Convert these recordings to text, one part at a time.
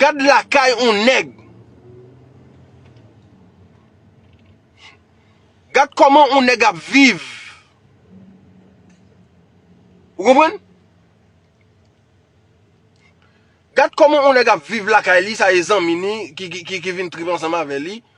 Gad lakay yon nèg. Gad kòman yon nèg ap viv. Ou konprann? Gad kòman yon nèg ap viv lakay li, sa e zanmi ni ki vin trip ansanm avè li.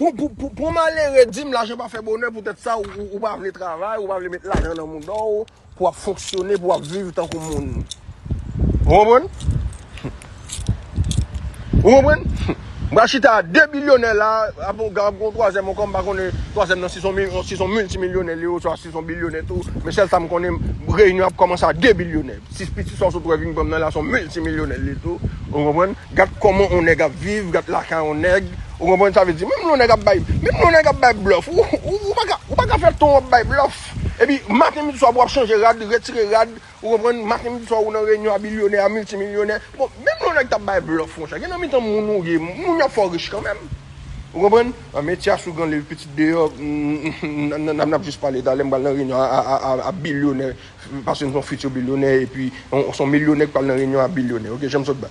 Pou malere di m lajan pa fè bonè poutèt sa ou pa vle travay, ou pa vle met lajan nan mouda w pou w ap fonksyone, pou w ap viv tankou moun. Ou konprann? Ou konprann? M pral chita a 2 bilyonè la, ap gen yon twazyèm ankò, m pa konnen twazyèm nan si son milti milyonè li ye oswa son bilyonè tou men sèl sam konnen reyinyon ap kòmanse a 2 bilyonè ti piti sa ou sot wè vin pranm nan la son milti milyonè li tou ou konprann gad kòman on nèg ap viv gad lakay on nèg ou konprann sa vle di menm lè on nèg ap bay menm lè on nèg ap bay blòf ou paka ou paka fè ton wap bay blòf epi maten midi swa pou wap chanje rad retire rad Ou konprann, maten midi swa ou nan reyinyon a bilyonè, a miltimilyonè. Bon, menm lè yon nèg ta bay blòf konsa, gen nan mitan moun ou ye, moun yo ap fè w rich kanmenm. Ou konprann? An men Tyas ou gran liv pitit deyò, n ap jis pale talè, m pral nan reyinyon a bilyonè, pase m se yon fiti bilyonè epi se yon milyonè ki pral nan reyinyon a bilyonè. Ok, janm sot ba.